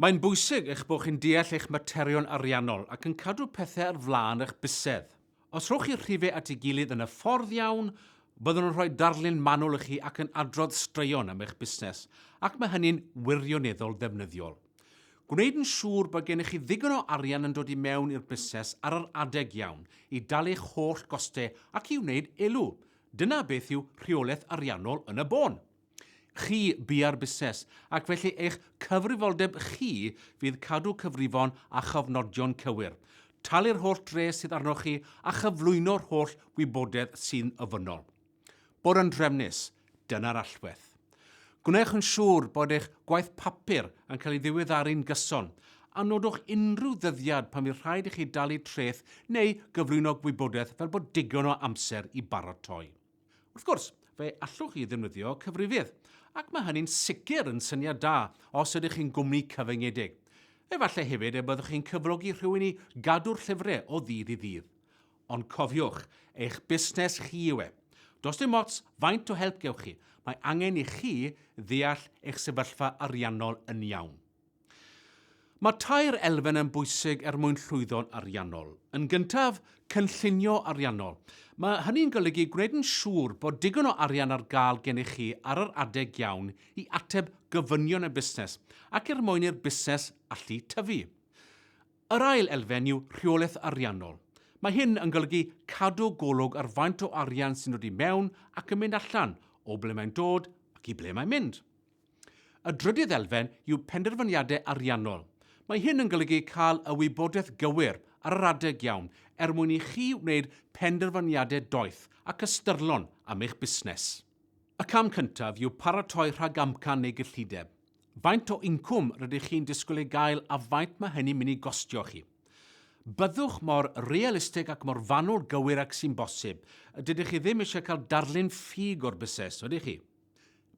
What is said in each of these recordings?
Mae'n bwysig eich bod chi'n deall eich materion ariannol ac yn cadw pethau ar flaen eich bysedd. Os rhowch chi'r rhifau at ei gilydd yn y ffordd iawn, byddwn yn rhoi darlun manwl i chi ac yn adrodd straeon am eich busnes, ac mae hynny'n wirioneddol ddefnyddiol. Gwneud yn siŵr bod gennych chi ddigon o arian yn dod i mewn i'r busnes ar yr adeg iawn i dalu eich holl gostau ac i wneud elw, dyna beth yw rheolaeth ariannol yn y bôn. chi bia'r busnes, ac felly eich cyfrifoldeb chi fydd cadw cyfrifon a chofnodion cywir, talu'r holl dres sydd arnoch chi a chyflwyno'r holl wybodaeth sy'n ofynnol. Bod yn drefnus, dyna'r allwedd. Gwnewch yn siŵr bod eich gwaith papur yn cael ei ddiweddaru'n gyson, a nodwch unrhyw ddyddiad pan fydd rhaid i chi dalu treth neu gyflwyno gwybodaeth fel bod digon o amser i baratoi. Wrth gwrs, fe allwch chi ddefnyddio cyfrifydd, ac mae hynny'n sicr yn syniad da os ydych chi'n gwmni cyfyngedig. Efallai hefyd y byddwch chi'n cyflogi rhywun i gadw'r llyfrau o ddydd i ddydd. Ond cofiwch, eich busnes chi yw e. Does dim ots faint o help gewch chi, mae angen i chi ddeall eich sefyllfa ariannol yn iawn. Mae tair elfen yn bwysig er mwyn llwyddo'n ariannol. Yn gyntaf, cynllunio ariannol. Mae hynny'n golygu gwneud yn siŵr bod digon o arian ar gael gennych chi ar yr adeg iawn i ateb gofynion y busnes ac er mwyn i'r busnes allu tyfu. Yr ail elfen yw rheolaeth ariannol. Mae hyn yn golygu cadw golwg ar faint o arian sy'n dod i mewn ac yn mynd allan, o ble mae'n dod ac i ble mae'n mynd. Y drydydd elfen yw penderfyniadau ariannol. Mae hyn yn golygu cael y wybodaeth gywir ar yr adeg iawn er mwyn i chi wneud penderfyniadau doeth ac ystyrlon am eich busnes. Y cam cyntaf yw paratoi rhagamcan neu gyllideb. Faint o incwm rydych chi'n disgwyl ei gael a faint mae hynny'n mynd i gostio chi. Byddwch mor realistig ac mor fanwl gywir ag sy'n bosib. Dydych chi ddim eisiau cael darlun ffug o'r busnes, ydych chi?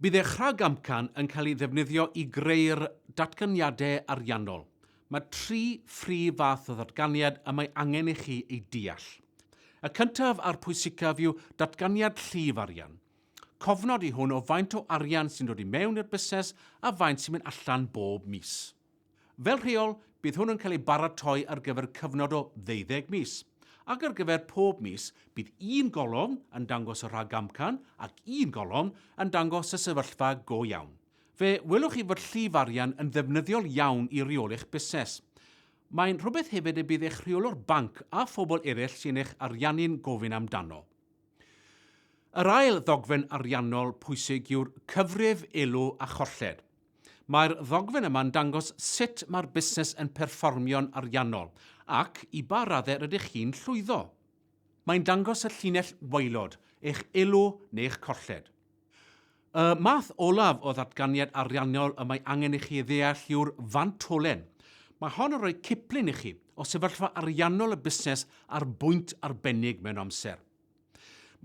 Bydd eich rhagamcan yn cael ei ddefnyddio i greu'r datganiadau ariannol. Mae tri phrif fath o ddatganiad y mae angen i chi eu deall. Y cyntaf a'r pwysicaf yw datganiad llif arian. Cofnod yw hwn o faint o arian sy'n dod i mewn i'r busnes a faint sy'n mynd allan bob mis. Fel rheol, bydd hwn yn cael ei baratoi ar gyfer cyfnod o ddeuddeg mis, ac ar gyfer pob mis bydd un golofn yn dangos y rhag amcan ac un golofn yn dangos y sefyllfa go iawn. Fe welwch chi fod llif arian yn ddefnyddiol iawn i reoli'ch busnes. Mae'n rhywbeth hefyd y bydd eich rheolwr banc a phobl eraill sy'n eich ariannu'n gofyn amdano. Yr ail ddogfen ariannol pwysig yw'r cyfrif elw a cholled. Mae'r ddogfen yma'n dangos sut mae'r busnes yn perfformio'n ariannol ac i ba raddau rydych chi'n llwyddo. Mae'n dangos y llinell waelod, eich elw neu eich colled. Y math olaf o ddatganiad ariannol y mae angen i chi ei ddeall yw'r fantolen. Mae hon yn rhoi ciplun i chi o sefyllfa ariannol y busnes ar bwynt arbennig mewn amser.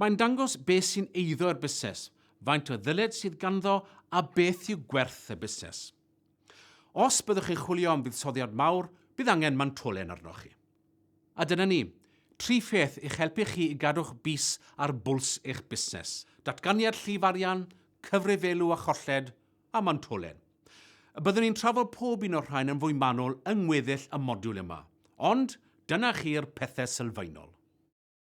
Mae'n dangos beth sy'n eiddo i'r busnes, faint o ddyled sydd ganddo a beth yw gwerth y busnes. Os byddwch chi'n chwilio am fuddsoddiad mawr, bydd angen mantolen arnoch chi. A dyna ni, tri pheth i'ch helpu chi i gadw'ch bys ar bwls eich busnes, datganiad llif arian, cyfrifielu a cholled, a mantolen. Y byddwn ni'n trafod pob un o'r rhain yn fwy manwl yng ngweddill y modiwl yma, ond dyna chi'r pethau sylfaenol.